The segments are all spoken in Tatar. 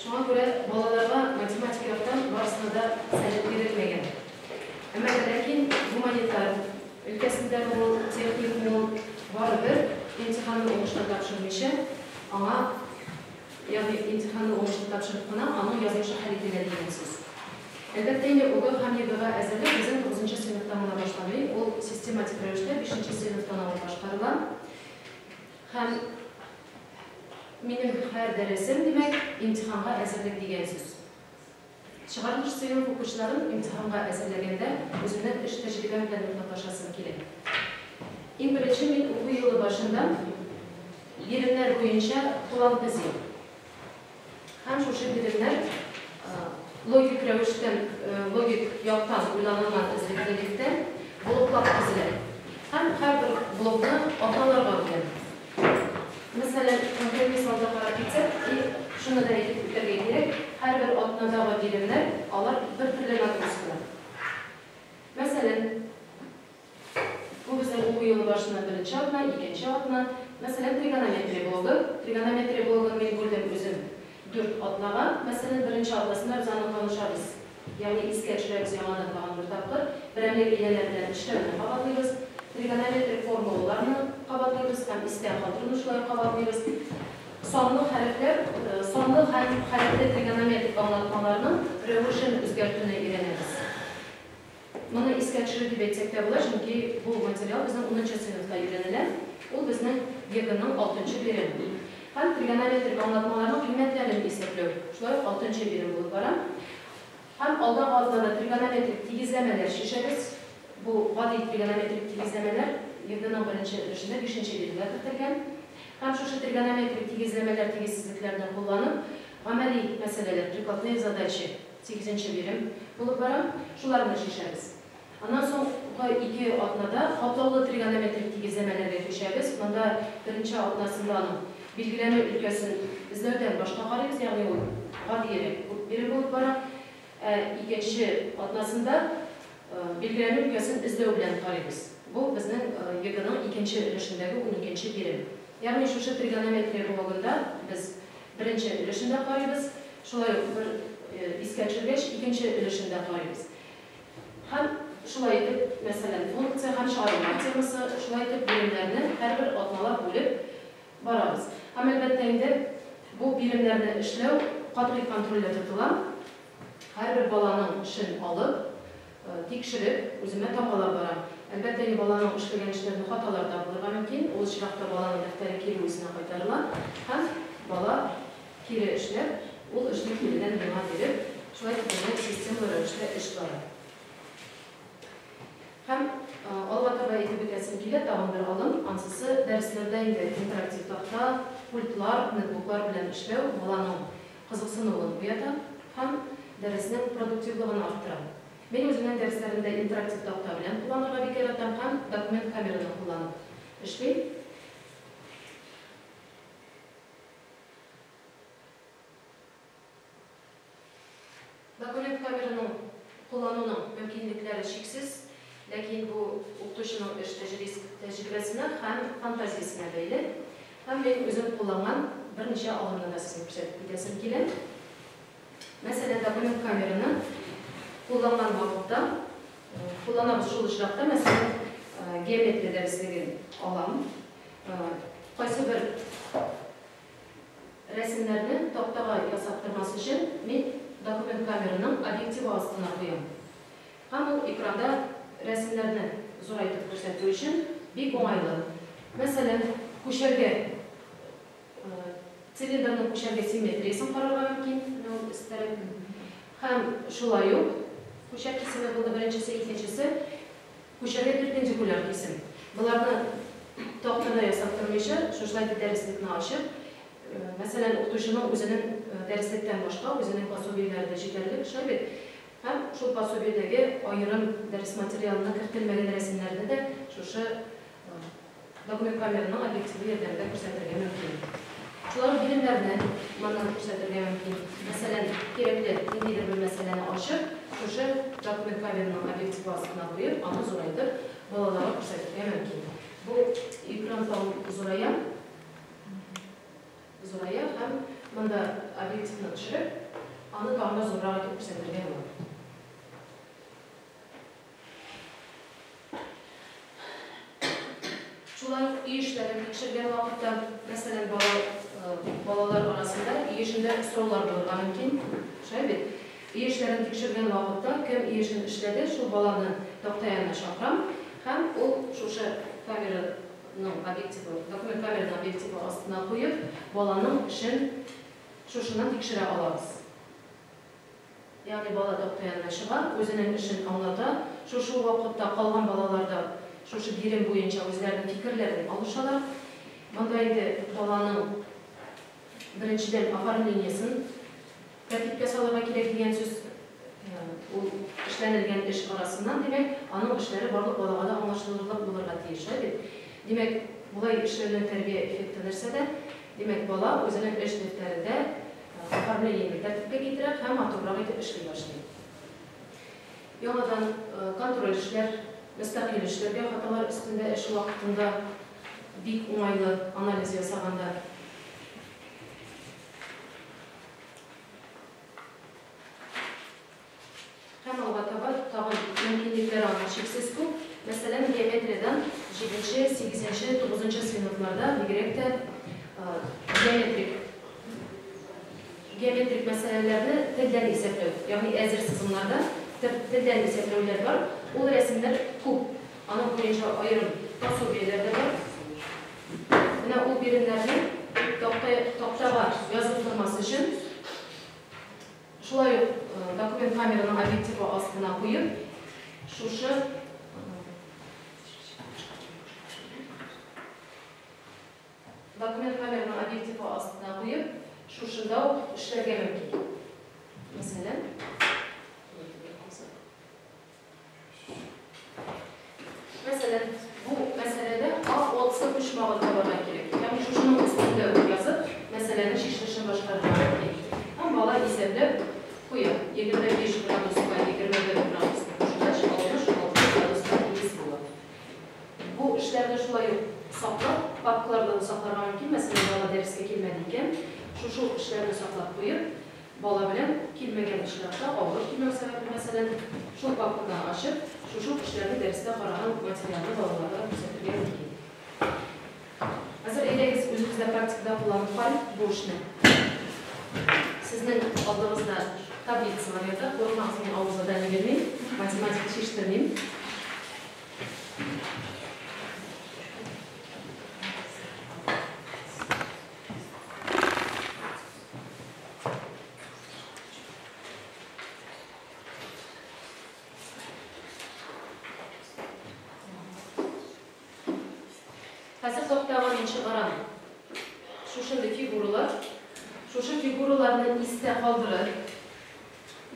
Шуңа күрә балаларга математик яктан барысына да совет бирелмәгән. Әмма дә ләкин гуманитар өлкәсендә булу, техник мул, барыбер имтиханны уңышлы тапшырмыйча, аңа, ягъни имтиханны уңышлы тапшырып кына аның язмышы хәл ителә дигән сүз. Әлбәттә инде ОГЭ һәм ЕГЭга әзерлек безнең тугызынчы сыйныфтан гына башланмый, ул систематик рәвештә бишенче сыйныфтан алып башкарыла һәм, Минем һәр дәресем, димәк, имтиханга әзерлек дигән сүз. Чыгарылыш сыйныф укучыларын имтиханга әзерләгәндә үземнең эш тәҗрибәм белән уртаклашасым килә. Иң беренче мин уку елы башында биремнәр буенча план төзим. Һәм шушы биремнәр логик рәвештән, логик яктан уйланылган эзлеклелектән блоклар төзелә. Һәм һәрбер блокны атналарга бүләм. Мәсәлән, конкрет мисалда карап китсәк, и, шуны да әйтеп үтәргә кирәк, һәрбер атнадагы биремнәр, алар бер төрле нагрузкалар. Мәсәлән. Бу безнең уку елы башыннан беренче атна, икенче атна. Мәсәлән, тригонометрия блогы. Тригонометрия блогын мин күрдем үзем дүрт атнага. Мәсәлән, беренче атнасында без аны танышабыз, ягъни искә төшерәбез яңадан тагын бер тапкыр. Берәмлек ияләр белән эшләүне кабатлыйбыз. Тригонометрик формулаларны кабатлыйбыз һәм истә калдыру нушларын кабатлыйбыз. Санлы хәрефләр, санлы һәм хәрефле тригонометрик аңлатмаларның рәвешен үзгәртүне өйрәнәбез. Моны искә төшереп дип әйтсәк тә була, чөнки бу материал безнең унынчы сыйныфта өйрәнелә. Ул безнең ЕГЭның алтынчы бирем. Һәм тригонометрик аңлатмаларның кыйммәтләрен исәпләү шулай ук алтынчы бирем булып бара. Һәм алдагы атнада тригонометрик тигезләмәләр чишәбез. Бу гади тригонометрик тигезләмәләр ЕГЭның беренче өлешендә бишенче биремгә кертелгән. Һәм шушы тригонометрик тигезләмәләр, тигезсезлекләрне кулланып, гамәли мәсьәләләр, прикладные задачи, Сигезенче бирем булып бара. Шуларны чишәбез. Аннан соңгы ике атнада катлаулы тригонометрик тигезләмәләргә күчәбез. Монда беренче атнасында аның билгеләнү өлкәсен эзләүдән башка карыйбыз, ягъни ул гадиерәк бирем булып бара. Ә икенче атнасында билгеләнү өлкәсен эзләү белән карыйбыз. Бу безнең ЕГЭның икенче өлешендәге уникенче бирем. Ягъни шушы тригонометрия блогында без Беренче өлешен дә карыйбыз, шулай ук бер искә төшергәч, икенче өлешен дә карыйбыз. Һәм шулай итеп, мәсәлән, функция һәм чыгарылма темасы, шулай итеп, биремнәрне һәрбер атналап бүлеп барабыз. Һәм, әлбәттә инде, бу биремнәрне эшләү катгый контрольдә тотыла. Һәрбер баланың эшен алып, Тикшереп, үземә тамгалап барам. Әлбәттә инде баланың эшләгән эшләрендә хаталар да булырга мөмкин. Ул очракта баланың дәфтәре кире үзенә кайтарыла һәм бала кире эшләп, ул эшне киредән миңа биреп, шулай итеп безнең системалы рәвештә эш бара. Һәм алга таба әйтеп үтәсем килә, тагын бер алым, ансысы, дәресләрдә инде интерактив такта, пультлар, нетбуклар белән эшләү, баланың кызыксынуын уята һәм дәреснең продуктивлыгын арттыра. Мин үземнең дәресләремдә интерактив такта белән кулланырга бик яратам һәм документ камераны кулланып эшлим. Документ номерының куллануның мөмкинлекләре чиксез, ләкин бу укытучының эш тәҗриск тәҗрибәсенә һәм фантазиясенә бәйле, һәм мин үзем кулланган берничә алымны да сезгә күрсәтеп китәсем килә. Мәсәлән, документ камераны кулланган вакытта, кулланабыз шул очракта, мәсәлән, геометрия дәреслеген алам, кайсыбер Рәсемнәрне тактага ясап тормас өчен, мин документ камераның объективы астына куям. Һәм ул экранда рәсемнәрне зурайтып күрсәтү өчен бик уңайлы. Мәсәлән, күчәргә, цилиндрның күчәргә симметриясен карарга мөмкин, менә ул өстәрәк. Һәм шулай ук, күчәк кисеме булды беренчесе, икенчесе. Күчәргә перпендикуляр кисем. Боларны тактада ясап тормыйча, шушылай итеп дәреслекне ачып, мәсәлән, укытучының үзенең дәреслектән башка үзенең пособиеләре дә җитәрлек, шулай бит? Һәм шул пособиедәге аерым дәрес материалына кертелмәгән рәсемнәрне дә шушы Документ камераны объективлы ярдәмдә күрсәтергә мөмкин. Шулай ук биремнәрне моннан күрсәтергә мөмкин. Мәсәлән, кирәкле ниндидер бер мәсьәләне ачып, шушы документ камераны объектив астына куеп, аны зурайтып, балаларга күрсәтергә мөмкин. Бу экран тагын зурая, зурая һәм монда объективны төшереп, аны тагын да зуррак итеп күрсәтергә була. Шулай ук өй эшләрен тикшергән вакытта, мәсәлән, балалар арасында өй эшендә сораулар булырга мөмкин, шулай бит? Өй эшләрен тикшергән вакытта, кем өй эшен эшләде, шул баланы такта янына чакырам һәм ул шушы камераның объективы, документ камераның объективы астына куеп, баланың эшен шушыннан тикшерә алабыз. Ягъни бала такта янына чыга, үзенең эшен аңлата, шушы ук вакытта калган балалар да шушы бирем буенча үзләренең фикерләрен алышалар. Монда инде баланың, беренчедән, оформлениесен тәртипкә салырга кирәк дигән сүз. Ул эшләнелгән эш арасыннан, димәк, аның эшләре барлык балага да аңлашылырлык булырга тиеш, алай бит? Димәк, болай эшләнүнең тәрбия эффекты нәрсәдә? Димәк, бала үзенең эш дәфтәрендә Сәфәрне җиңел тәртипкә китерә һәм матуррак итеп эшли башлый. Яңадан контроль эшләр, мөстәкыйль эшләргә, хаталар өстендә эш вакытында бик уңайлы, анализ ясаганда. Һәм алга таба тагын мөмкинлекләр аның чиксез күп, мәсәлән, геометриядән җиденче, сигезенче, тугызынчы сыйныфларда бигрәк тә геометрик геометрик мәсьәләләрне телдән исәпләү, ягъни әзер сызымнарда телдән исәпләүләр бар, ул рәсемнәр күп, аның буенча аерым пособиеләр дә бар. Менә ул биремнәрне тактага язып тормас өчен Шулай ук документ камераның объективы астына куеп, шушы документ камераның объективы астына куеп, шушында ук эшләргә мөмкин. Мәсәлән, Мәсәлән, бу мәсьәләдә А отск почмагын табарга кирәк. Ягъни шушының өстендә үк язып, мәсьәләнең чишелешен башкарырга мөмкин. Һәм бала исәпләп куя. 25 градуска 21 градусны кушкач, 66 градуска тигез була. Бу эшләрне шулай ук саклап, папкаларда да сакларга мөмкин. Мәсәлән, бала дәрескә килмәде икән, шушы ук эшләрне саклап куеп, Бала белән килмәгән очракта авыр килмәү сәбәпле, мәсәлән, шул папканы ачып, шушы ук эшләрне дәрестә караган материалны балаларга да күрсәтергә мөмкин. Хәзер әйдәгез, үзебез дә практикада кулланып карыйк бу эшне. Сезнең алдыгызда таблицалар ята, курыкмагыз, мин авыр задание бирмим, математика чиштермим. Хәзер саптагы нче барам. Шушындый фигуралар, шушы фигураларны истә калдырып,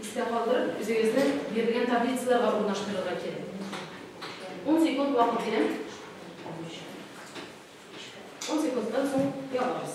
истә калдырып, үзегезне бирелгән таблицаларга урнаштырырга кирәк. 10 секунд вакыт бирәм. 10 секундтан соң ябабыз.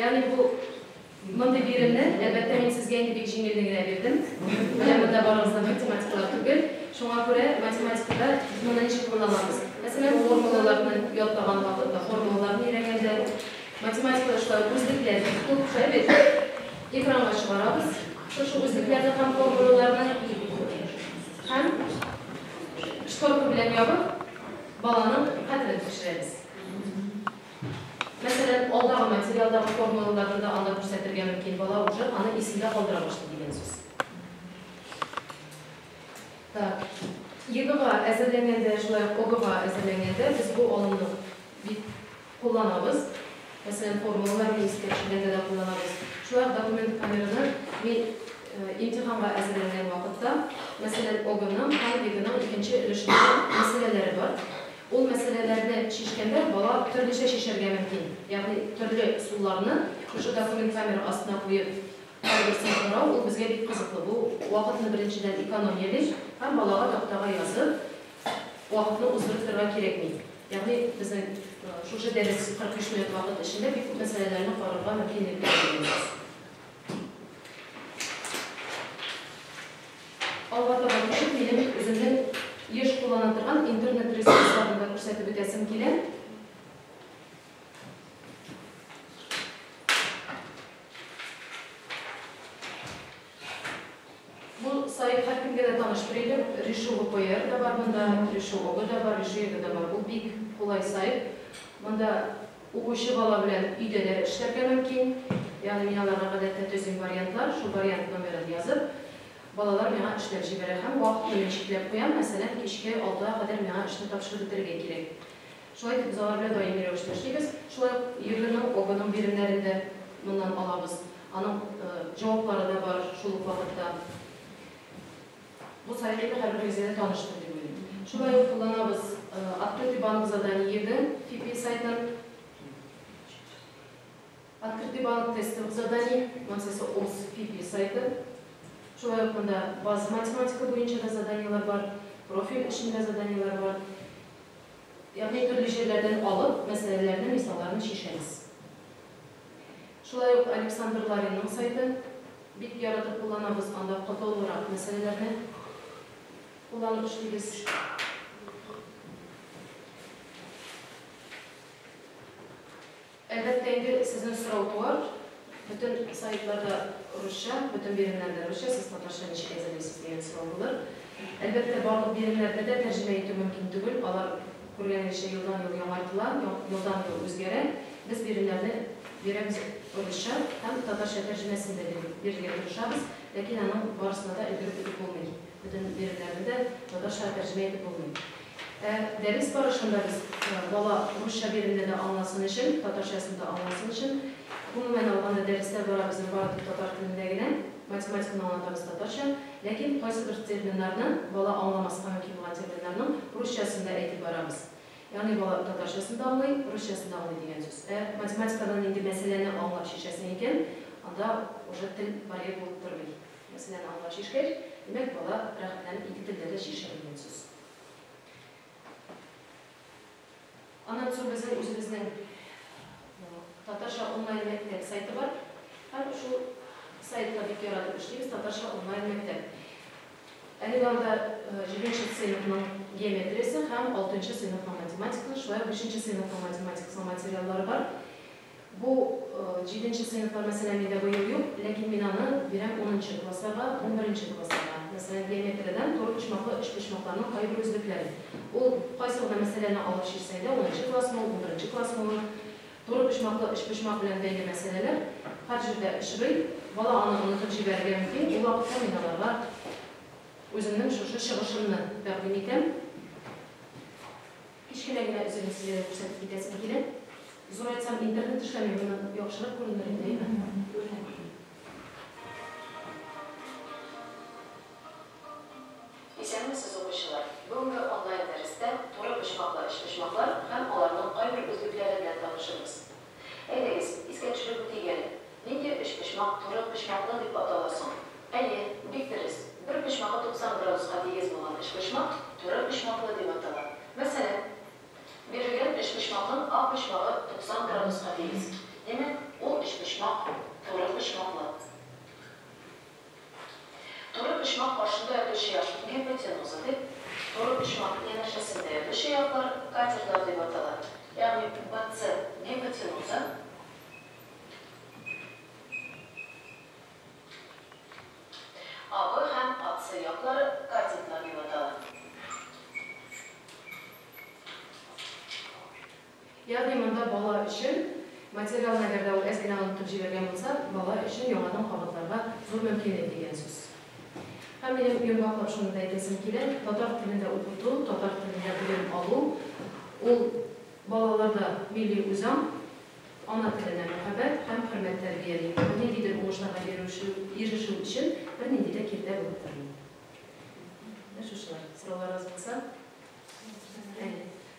Ягъни бу мондый биремне, әлбәттә, мин сезгә инде бик җиңелен генә бирдем. Менә монда барыгызны математикалар түгел. Шуңа күрә математикада без моны ничек кулланабыз? Мәсәлән, формулаларны ятлаган вакытта, формулаларны өйрәнгәндә, математикада шулай үзлекләр күп шулай бит. Экранга чыгарабыз шушы үзлекләрне һәм формулаларны һәм Шторка белән ябып, баланың кадерен тикшерәбез. Мәсәлән, алдагы материалдагы формулаларны да анда күрсәтергә мөмкин, бала уже аны исендә калдыра башлый дигән сүз. Так. ЕГЭга әзерләнгәндә, шулай ук ОГЭга әзерләнгәндә без бу алымны бик Кулланабыз. Мәсәлән, формулалар белән искә төшергәндә дә кулланабыз. Шулай ук документ камераны мин имтиханга әзерләнгән вакытта, мәсәлән, ОГОның, ХАНВИГының икенче өлешендә мәсьәләләре бар. Ул мәсьәләләрне чишкәндә бала төрлечә чишәргә мөмкин. Ягъни төрле ысулларны шушы документ камера астына куеп, һәрберсен карау, ул безгә бик кызыклы. Бу вакытны беренчедән экономияли һәм балага тактага язып, вакытны уздырып торырга кирәкми. Ягъни безнең шушы дәрес 45 минут вакыт эчендә бик күп мәсьәләләрне карарга мөмкинлек биргән. Алга таба китеп, минем үземнең еш куллана торган интернет ресурсларын да күрсәтеп үтәсем килә. Бу сайт һәркемгә дә таныш бер идем. Решу ВПР да бар монда, Решу Обы да бар, Решу Егэ да бар. Бу бик кулай сайт. Монда укучы бала белән өйдә дә эшләргә мөмкин. Ягъни мин аларга гадәттә төзим вариантлар, шул вариант номерын язып, балалар миңа эшләп җибәрә һәм вакытны мин чикләп куям, мәсәлән, кичке алтыга кадәр миңа эшне тапшырып бетерергә кирәк. Шулай итеп, без алар белән даими рәвештә эшлибез. Шулай ук ЕГЭның, ОГЭның биремнәрен дә моннан алабыз. Аның җаваплары да бар шул ук вакытта. Бу сайт инде һәрберегезгә дә таныштыр дип уйлыйм. Шулай ук кулланабыз Открытый банк заданий ЕГЭ, FIPI сайтын. Открытый банк тестовых заданий, моңсысы ОС, FIPI сайты. Шулай ук монда база математика буенча да заданиеләр бар, профиль эчендә заданиеләр бар. Ягъни төрле җирләрдән алып, мәсьәләләрнең мисалларын чишәбез. Шулай ук Александр Ларинның сайты, бик яратып кулланабыз, анда катлаулырак мәсьәләләрне кулланып эшлибез. Әгәр тәнге сезне сорау туар, бөтен сайтларда русча, бөтен биремнәрдә русча, сез татарча ничек әзерлисез дигән сорау булыр. Әлбәттә, барлык биремнәрдә дә тәрҗемә итү мөмкин түгел, алар, күргәнегезчә, елдан-ел яңартыла, елдан-ел үзгәрә. Без биремнәрне бирәбез русча һәм татарча тәрҗемәсен дә бирергә тырышабыз, ләкин аның барысына да өлгереп бетеп булмый, бөтен биремнәрне дә татарчага тәрҗемә итеп булмый. Ә дәрес барышында без бала русча биремне дә аңласын өчен, татарчасын да аңласын өчен, гомумән алганда, дәресләр бара безнең бары тик татар телендә генә, математиканы аңлатабыз татарча, ләкин кайсыбер терминнарны, бала аңламаска мөмкин булган терминнарның русчасын да әйтеп барабыз. Ягъни бала татарчасын да аңлый, русчасын да аңлый дигән сүз. Ә математикадан нинди мәсьәләне аңлап чишәсең икән, анда уже тел барьер булып тормый. Мәсьәләне аңлап чишкәч, димәк, бала рәхәтләнеп ике телдә дә чишә дигән сүз. Аннан соң безнең үзебезнең татарча онлайн мәктәп сайты бар. Һәм шул сайтта бик яратып эшлибез, татарча онлайн мәктәп. Әлеге анда җиденче сыйныфның геометриясе һәм алтынчы сыйныфның математикасы, шулай ук бишенче сыйныфның математикасының материаллары бар. Бу җиденче сыйныфлар мәсәлән миндә быел юк, ләкин мин аны бирәм унынчы классларга, унберенче классларга. Мәсәлән, геометриядән турыпочмаклы өчпочмакларның кайбер үзлекләрен. Ул кайсы гына мәсьәләне алып чишсәң дә, унынчы классмы ул, унберенче классмы ул, турыпочмаклы өчпочмак белән бәйле мәсьәләләр һәр җирдә очрый. Бала аны онытып җибәрергә мөмкин, ул вакытта мин аларга үземнең шушы чыгышымны тәкъдим итәм. Кечкенә генә өзелеш серләре күрсәтеп китәсем килә. Зурайтсам, интернет эшләми, моннан яхшырак күренер иде, әйе? Күренә, күренә. Исәнмесез, укучылар! Бүгенге онлайн-дәрестә туры почмаклы өчпочмаклар һәм аларның кайбер үзлекләре белән танышырбыз. Әйдәгез, искә төшереп үтик әле. Нинди өчпочмак туры почмаклы дип атала соң? Әйе, бик дөрес, бер почмагы 90 градуска тигез булган өчпочмак туры почмаклы дип атала. Мәсәлән, бирелгән өчпочмакның ак почмагы 90 градуска тигез. Димәк, ул өчпочмак туры почмаклы. Туры почмак каршында ятучы яшел гипотенуза дип, туры почмак янәшәсендә ятучы яклар катерлар дип атала, ягъни БЦ гипотенуза, АБ һәм АЦ яклары катетлар дип атала. Ягъни монда бала өчен материал нагәрдә ул әз генә онытып җибәргән булса, бала өчен яңадан кабатларга зур мөмкинлек дигән сүз. Һәм минем йомгаклап шуны да әйтәсем килә, татар телендә укыту, татар телендә белем алу, ул балаларда милли үзаң, ана теленә мәхәббәт һәм хөрмәт тәрбияли. Бу ниндидер уңышларга ирешү ирешү өчен бернинди дә киртә булып тормый. Менә шушылар. Сорауларыгыз булса? Әйе.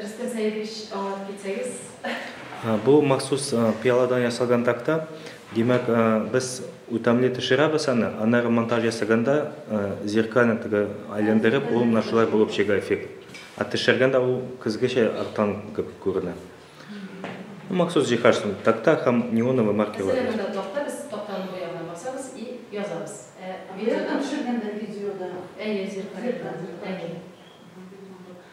Рөстәм Сәидович, аңлатып китсәгез. Бу махсус пыяладан ясалган такта. Димәк, без үтәмле төшерәбез аны, аннары монтаж ясаганда зеркально теге айләндереп, ул менә шулай булып чыга эффект. Ә төшергәндә ул көзгечә арттан кебек күренә. Махсус җиһаз шул, такта һәм неоновый маркерлар. Мәсәлән, монда такта, без тактаны бояу белән басабыз и язабыз. Ә видеода. Төшергәндә видеода. Әйе, зеркально. Зеркально. Әйе.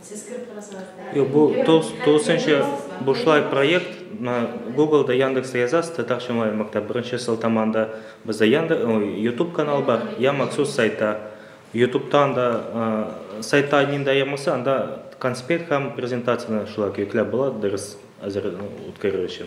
Сез кереп карасагыз. Юк, бу тулысынча бушлай проект. Google-да, Яндексда язасыз, татарча онлайн мәктәп. Беренче сылтаманда бездә Яндекс, YouTube канал бар, я махсус сайтта. YouTube-тан да сайтта нинди аермасы, анда конспект һәм презентацияне шулай көйкләп була, дәрес әзер үткәрер өчен.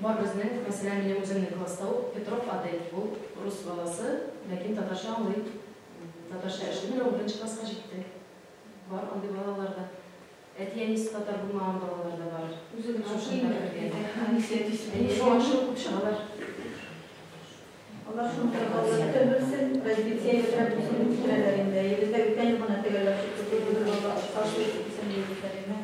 Бар безнең, мәсәлән, минем үземнең класста ук Петров Адель, ул рус баласы, ләкин татарча аңлый, татарча эшли, менә ул беренче класска җитте. Бар андый балалар да. Әти-әнисе татар булмаган балалар да бар. Үзе генә укый инде. Әйе. Шуңа шул күп чыгалар. Алар шуны да кабатлап белсен, развитие ясап үзен үстерәләр инде. Әйебездә үткән ел гына төгәлләп чыкты, бу юлы да алар оста шул итсен, диеп үтә Лина.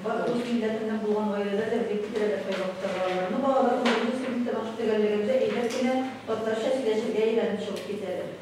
Бар урыс милләтеннән булган гаиләләр дә бик тиз рәвәштә яхшыра алалар. Аны балалар үзебез кебек тормыш төгәллегендә әйбәт кенә татарча сөйләшергә өйрәнеп чыгып китәләр.